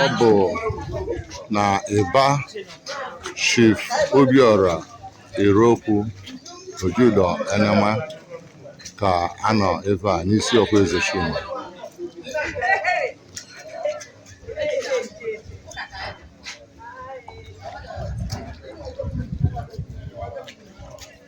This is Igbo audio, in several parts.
ọ bụ na Ịba Chief Obiora Erokwu Ojudo Enema ka a nọ ebe a n'Isiokwe Ezechima.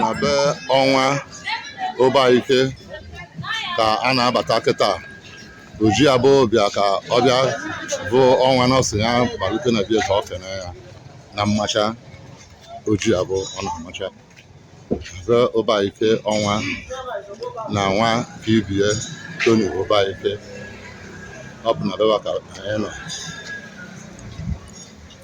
na be ọnwa Ụbaike ka a na-abata kịta Ojiabụ bịa ka ọ bịa bụ ọnwa nọọsịa malite na be ya ka ọ kene ya na mmacha Ojiabụ ọ na-amacha be Ụbaike ọnwa na Nwakibie Tony Ụbaike ọ bụ na beba ka anyị nọ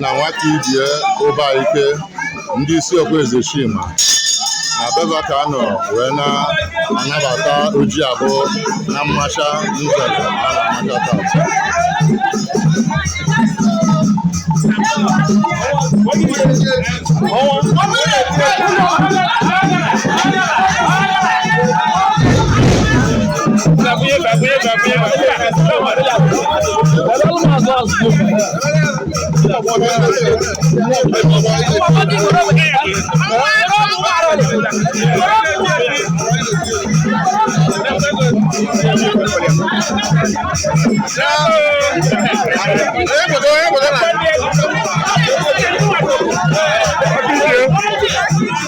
na nwata ibie Ụbaike ndị Isiokwe Ezechima na beba ka a nọ wee na-anabata Ojiabụ na mmacha nzere a na-amacha tata Thank you.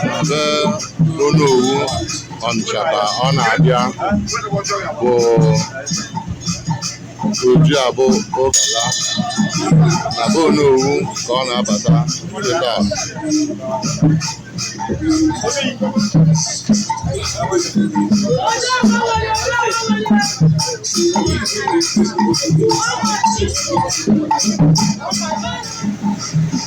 na be Onowu Ọnịcha ka ọ na-abịa bụ Ojiabụ ụkala na be Onowu ka ọ na-abata kịta